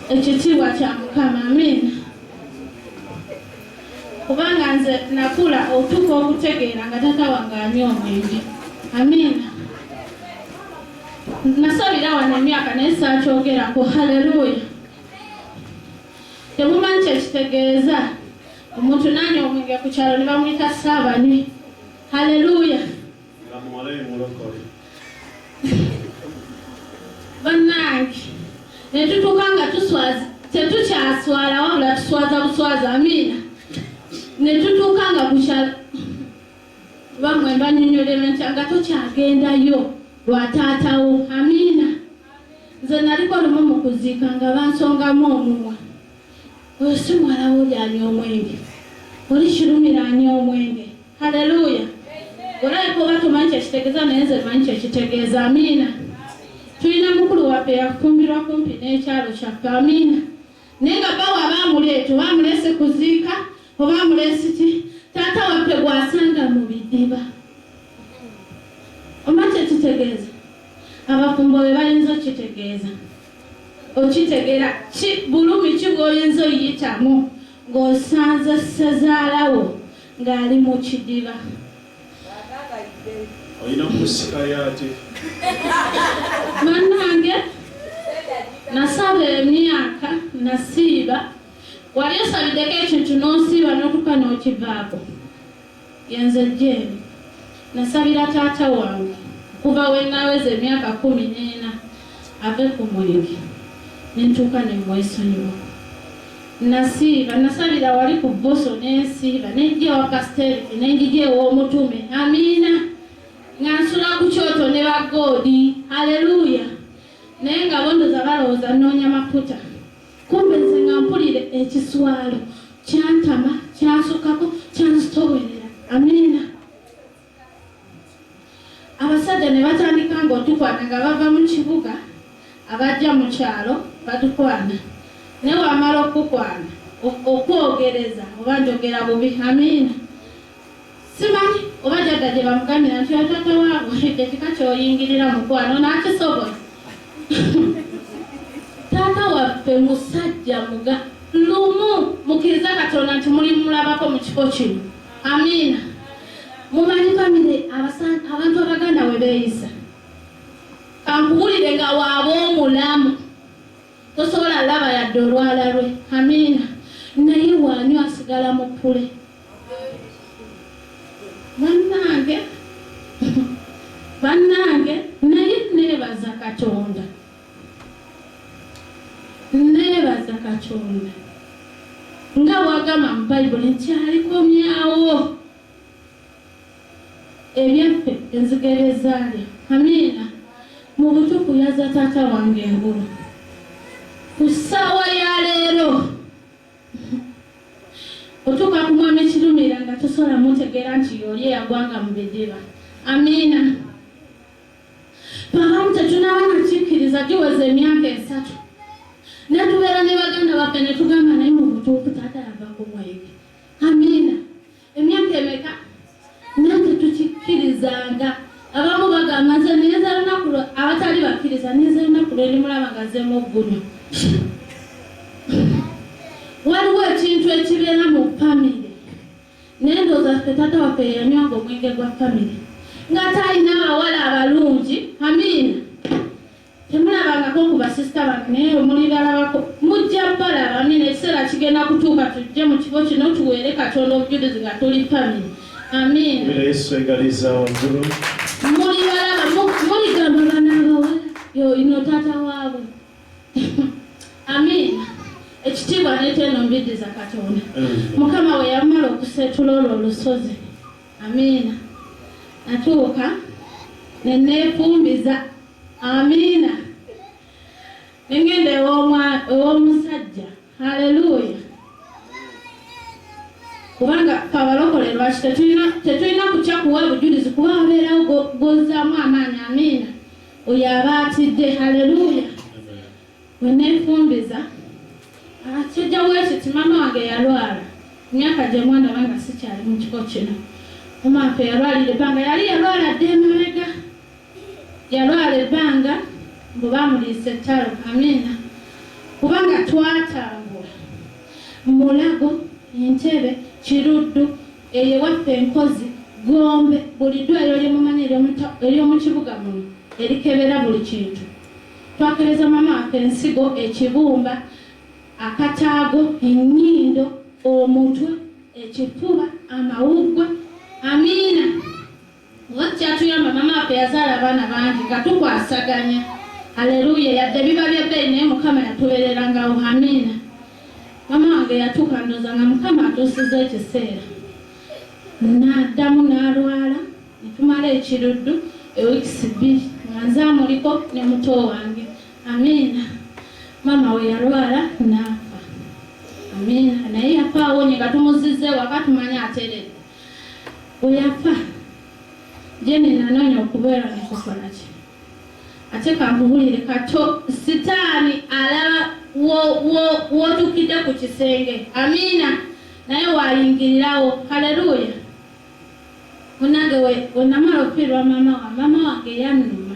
ekitiibwa kya mukama amiina kubanga nze nakula otuka okutegeera nga tata wange anywa omwenge amiina Nasabira wano emyaka naye saakyogerako. Haleluya! Temumanyi kye kitegeeza omuntu n'anywa omwenge ku kyalo ne bamuyita ssaabanywi. Haleluya! Bannange ne tutuuka nga tuswaza, tetukyaswala wabula tuswaza buswaza. Amiina! Ne tutuuka nga ku kyalo Kuba mwe mbanyonyolela ntya nga tokyagendayo lwa taata wo. Amiina. Nze naliko lumu mu kuziika nga bansongamu omumwa. Oyo si muwala wo oli anywa omwenge. Oli kirumira anywa omwenge. Haleluya. Olabika oba tomanyi kye kitegeza naye nze manyi kye kitegeeza. Amiina. Tulina mukulu waffe yafumbirwa kumpi n'ekyalo kyaffe. Amiina. Naye nga bba waaba amuleeta oba amuleese kuziika oba amuleese ki, taata waffe gw'asanga mu bidiba. Omanyi kye kitegeeza? Abafumbo be bayinza okukitegeeza. Okitegeera ki bulumi ki bw'oyinza oyitamu ng'osanze ssezaala wo ng'ali mu kidiba? olina kumusikayo ate banange nasaba emyaka nasiiba wali osabideko ekintu nosiiba notuka nokivaako yenze jeeni nasabira taata wange kuva wenaweza emyaka kumi neena ave ku mwenge nentuuka nemwesonyiwa Nnasiiba, nnasabira wali ku Bbusu ne nsiiba, ne njja ewa Kasiteriki, ne njija ew'Omutume. Amiina. Nga nsula ku kyoto ne ba Godi. Aleluya! Naye nga bondoza balowooza nnoonya mafuta. Kumbe nze nga mpulira ekiswalo. Kyantama, kyansukkako, kyanzitoowerera. Amiina. abasajja ne batandika ng'otukwana nga bava mu kibuga abajja mu kyalo batukwana ne wamala okukwana okwogereza oba njogera bubi amiina simanyi oba jadda gye bamugamira nti otata waabo edde kika kyoyingirira mukwano nakisobola taata waffe musajja muga lumu mukiriza katonda nti mulimulabako mu kifo kino Amiina. Mumanyi famire abantu abaganda we beeyisa. Kankubulire nga waaba omulamu tosobola laba yadde olwala lwe. Amiina. Naye waanywa asigala mu pule. Bannange, bannange, naye neebaza Katonda. Nneebaza Katonda nga bw'agamba mu Bayibuli nti alikomyawo ebyaffe enzige bye zaalya. Amiina. Mu butuufu yazza taata wange engulu. Ku ssaawa ya leero otuuka ku mwami Kirumira nga tosobola mutegeera nti y'oli eyagwanga mu bidiba. Amiina. Pamam tetunaba nakikkiriza giweze emyaka esatu netubeera ne baganda baffe netugamba naye mu butuufu taata yava ku mwenge amiina emyaka emeka naye tetukikkirizanga abamu bagamba nze neza lunaku abatali bakkiriza neza lunaku lwendimulaba nga zemu oggulu waliwo ekintu ekibeera mu famire Naye ndowooza ffe taata waffe yeyanywanga omwenge gwa family nga ate alina abawala abalungi amiina temulabangako ku basisita bange naye omulibalabako mujja balaba amiina ekiseera kigenda kutuuka tujje mu kifo kino tuweere katonda obujulizi nga tuli family amiina mulibalaba muligamba bana abawala yoyino taata waabwe Amiina. Ekitiibwa n'eteeno mbiddiza Katonda. Mukama we yamala okuseetula olwo olusozi. Amiina. Natuuka ne neefumbiza. Amiina. Ne ngenda ew'omusajja. Haleluya. Kubanga fe abalokole lwaki tetulina kutya kuwa bujulizi kuba wabeerawo gwozzaamu amaanyi. Amiina. Oyo aba atidde. Haleluya! Bwe nneefumbiza akijja ah, bwe kiti, maama wange yalwala emyaka gye mwana oba nga sikyali mu kiko kino. Omaafe yalwalira ebbanga, yali yalwala dda emabega, yalwala ebbanga mbu baamuliisa ettalo. Amiina! Kubanga twatambula Mulago, Entebbe, Kiruddu Eyo ewaffe e Nkozi, Gombe, buli ddwaliro lye mumanyi ery'omu kibuga muno erikebera buli kintu. Twakebeza maama waffe ensigo, ekibumba, akataago, ennyindo, omutwe, ekifuba, amawuggwe. Amiina! Nga kyatuyamba mama waffe yazaala abaana bangi nga tukwasaganya Hallelujah yadde biba bya bbeeyi naye mukama yatubererangawo Amiina Mama wange yatuuka ndoza nga mukama atuusiza ekiseera naddamu nalwala netumala ekiruddu eweeks bbiri nga nze amuliko ne muto wange Amiina mama we yalwala naafa Amiina naye yafa awonye nga tumuzize waka tumanya ateredde Bwe yafa, Jane nanoonya okubeera mu kifuba kye. Ate kankubulire kato, sitaani alaba w'otuukidde ku kisenge, amiina, naye waayingirirawo. Haleluya! Munnange, we namala okufiirwa maama wange, maama wange yannuma.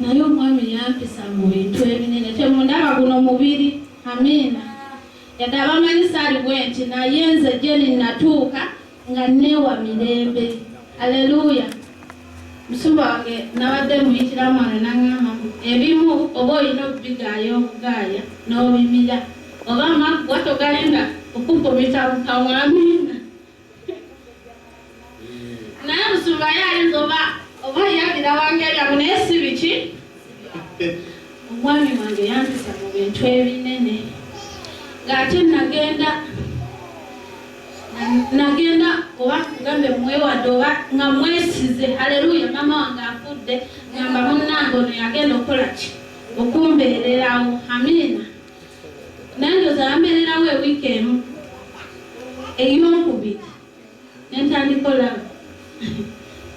Naye omwami yampisa mu bintu ebinene temundaba guno mubiri Amiina yadde abamanyi saali bwenti naye nze Jane natuuka nga neewa mirembe Alleluia Musumba wange nabadde muyitiramu wano nangamba mbu ebimu oba olina okubigaaya obugaaya nobimira oba amaggwa togalinda kukufumita mu kamwa Amiina. naye musumba ye ayinza oba oba yagira wangeri amu naye si biki omwami wange yampisa mu bintu ebinene ng'ate nagenda nagenda oba kugambe mwewadde oba nga mwesize aleluya mama wange afudde ngamba munnange ono yagenda okukola ki okumbeererawo amiina nange ozala mbererawo ewiiki emu eyokubiri nentandika olaba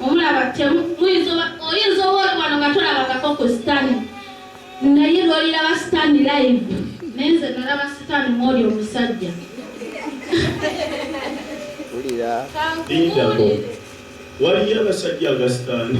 omulaba oyinza obaolwano nga tolabangako ku sitani naye lwoliraba sitani live naye nze nalaba sitani mwoli omusajja waliyo abasajja agasitani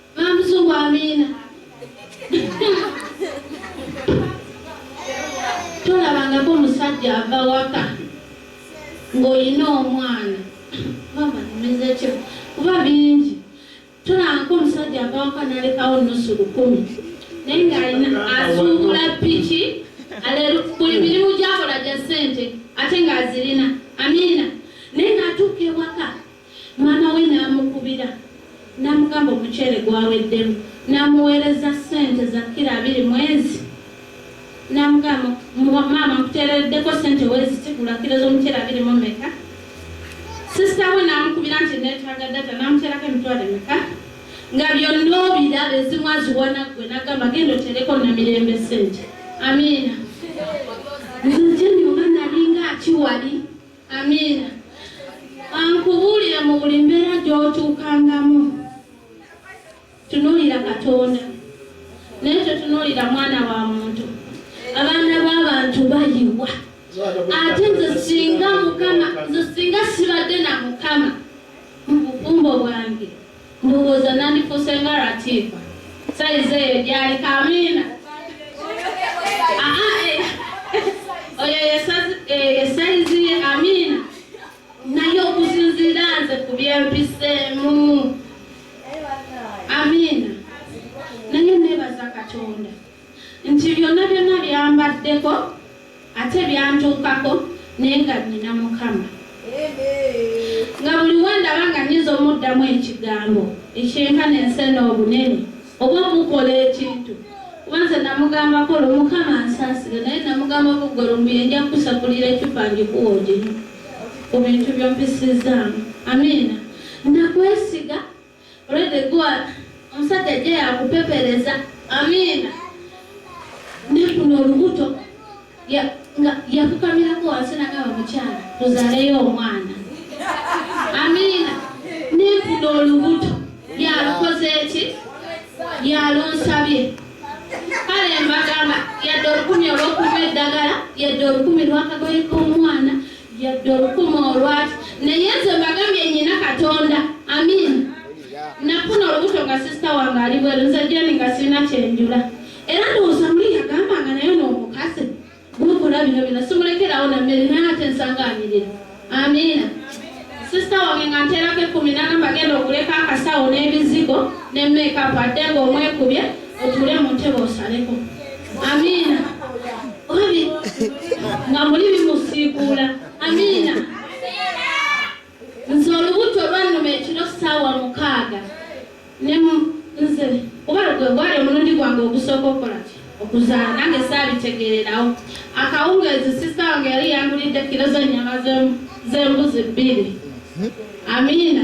Mamzungu Amina. Tolabangako musajja ava waka ng'olina omwana mama nimezekyo kuba bingi tolabangako omusajja ava waka nalekawo nusu lukumi naye ng'alina asuubula piki buli mirimu gyakola gya ssente ate ng'azirina amina naye ng'atuuka ewaka Maama we n'amukubira n'amugamba omuceere gwaweddemu n'amuweereza ssente za kkiro abiri mwezi n'amugamba maama nkuteereddeko ssente weeziti gula kkiro z'omuceere abiri mu meka sisita we n'amukubira nti neetaaga data n'amuteerako emitwalo emeka nga byonna obiraba ezimu aziwana ggwe n'agamba genda oteereko namirembe ssente amiina nze jeni oba nalinga akiwali Amiina. Ankubuulira mu buli mbeera gy'otuukangamu. Tunuulira Katonda naye totunuulira mwana wa muntu. Abaana b'abantu bayiwa. Ate nze singa Mukama, nze singa sibadde na Mukama mu bufumbo bwange Ndowooza nandifuuse nga Ratifa. Sayizi eyo gy'aliko. Amiina. Aa, eh, oyo ye sazi- eyo ye sayizi ye. Amiina. Naye okusinziira nze ku bye mpiseemu. Amiina. Naye nneebaza Katonda. Nti byonna byonna byambaddeko ate byantuukako naye nga nnina Mukama. Nga buli we ndaba nga nnyinza omuddamu ekigambo ekyenkana ensena obunene oba omukola ekintu kuba nze namugambako olwo Mukama ansaasire naye namugambako ggwe lumbuye nja kukusakulira ecupa ngikuwa oginywe ku bintu by'ompisizzaamu. Amiina. Nakwesiga. Olede gwa omusajja ajja yakupepereza. Amiina. Ne kuno olubuto ya nga yakukamirako wansi nagaba mukyala tuzaleyo omwana. Amiina. Ne kuno olubuto yalukoze eki yalunsabye. Kale mbagamba yadde olukumi olwokuma eddagala yadde olukumi lwakagoye k'omwana Yadde olukuma olwaki naye nze mbagambye nyina katonda amin nafuna olubuto nga sisita wange ali bweru nze jeni nga sirina kyenjula era ndowooza muli yagamba nga naye noomukazi gukula bino bino simulekerawo nammere naye ate nsangaanirira amiina sisita wange nga nteerako ekkumi nana mbagenda okuleka akasawo n'ebizigo ne meekapu adde nga omwekubye otuule mu ntebe osaleko amiina obi nga muli bimusiikuula amiina nze olubuto lwannuma ekiro ssaawa mukaaga ne nze oba gwe gwali omulundi gwange ogusooka okola ki okuzaala nange saabitegeererawo akawungeezi sisita wange yali yangulidde kiro z'ennyama z'embuzi bbiri amiina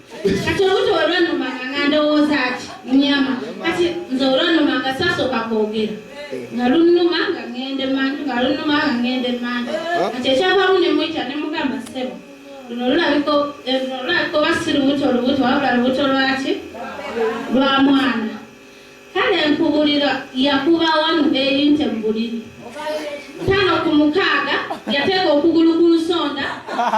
kati obuto olwanuma nga ndowooza ati nyama kati nze olwanuma nga sasooka kwogera nga lunuma nga ngende manju nga lunuma nga ngende manju kati ekyavamu nemwita nemugamba sebo luno lulabika eh, oba si lubuto lubuto wabula lubuto lwaki lwa mwana Kale nkubulira yakuba wanu eyinte mubuliri tano ku mukaaga yateeka okugulu ku nsonda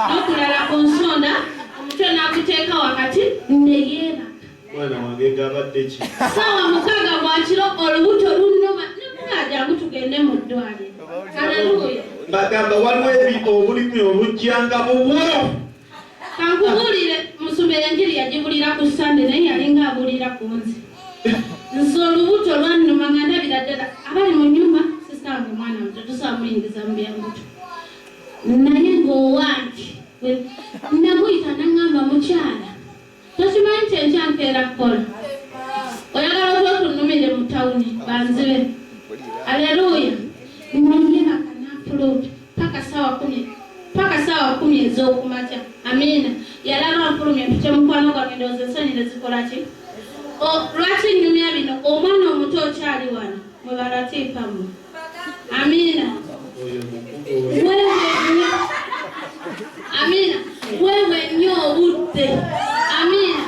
nokulala ku nsonda omutwe naguteeka wakati neyeebaka mwana wange gabadde ki saawa mukaaga gwakiro olubuto lunuma nekugajangu tugende mu ddwaliro aleluya bagamba waliwo ebi obulimi obujjanga bubwo Kankubulire musumba enjiri yagibulira ku Sande naye yalinga abulira ku nze. Nze olubuto lwannuma nga ndabira ddala abali mu nyumba sisange omwana muto tusaba muyingiza mu byambuto. Naye ng'owange namuyita nangamba mukyala Tokimanyi nti enkya nkeera kukola? Oyagala oba otunnumire mu tawuni banzibe. Aleruuya! Nnyumye na kananfuluutu paka ssaawa kkumi paka ssaawa kkumi ez'oku makya. Amiina! Yalaba nfulumye mpite mukwano gwange ndowooza ensonyi ne zikola ki? O, lwaki nnyumya bino? Omwana omuto okyali wano? Mwe ba Latiifa mmwe! Amina. Amina. Wewe nyo obudde. Amina.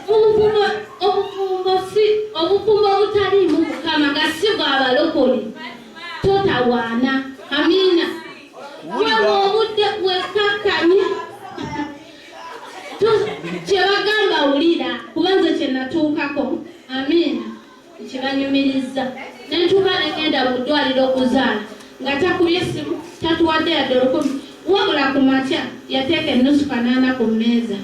Obufumbo obufumbo si obufumbo obutaliimu Mukama nga si bwa balokole. Totawaana. Amina. Wewe obudde wekkakkanye. Kye bagamba wulira kuba nze kye natuukako. Amina. kibanyumirizza ne ntuuka ne ŋŋenda mu ddwaliro okuzaala nga takubye ssimu tatuwadde yadde olukumi wabula ku makya yateeka ennusu kanaana ku mmeeza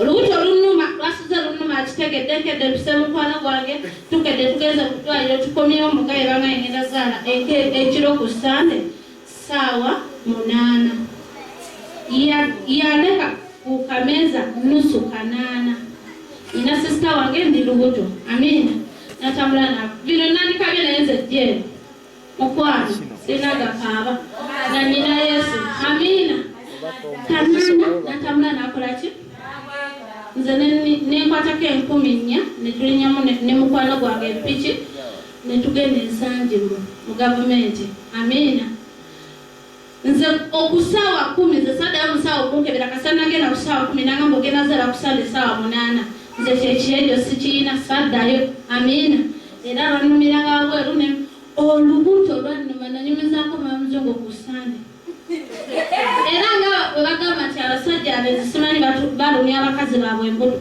olubuto olunnuma lwasuze lunnuma akitegedde nkedde mpise mukwano gwange tukedde tugenze mu ddwaliro tukomyewo mugaye banga engenda zaala ekiro ku ssande Ssaawa munaana. Ya, yaleka ku kameeza nnusu kanaana. Nina sisita wange ndi lubuto. Amiina. Natambula na bino nandikabye naye nze jeeri. Mukwano, sirina gakaaba. Na nina Yesu. Amiina. Kanaana, natambula nakola ki? Nze ne, ne, nenkwatako enkumi nnya, ne tulinyamu ne, ne mukwano gwange empiki. ne tugenda ensangi mu mu gavumenti amiina nze okusaawa kumi nze saddayo musaawa okunkebera kasa nagenda ku saawa kumi nangamba ogenda zala ku sande saawa munaana nze kyekiyejo sikiyina saddayo amiina era lwanumiranga wabweru ne olubuto lwannuma nanyumizako mamuzungu ku sande era nga bwe bagamba nti abasajja abezisimanyi balumya abakazi baabwe embuto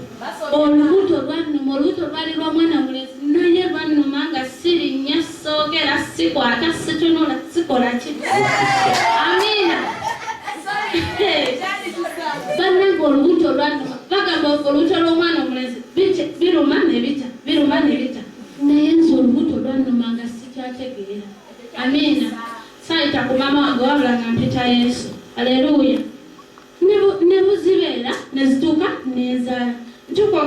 olubuto lwannuma olubuto lwali lwa mwana mulezi naye lwannuma nga sirinnya soogera sikwata situnula sikola ki amiina bannanga olubuto lwannuma bagamba olubuto lw'omwana omulezi biruma nebita biruma nebita naye nze olubuto lwannuma nga sikyategeera amiina Saayita ku maama wange wabula nga mpita Yesu. Aleruuya! Ne buzibeera ne zituuka ne nzaala.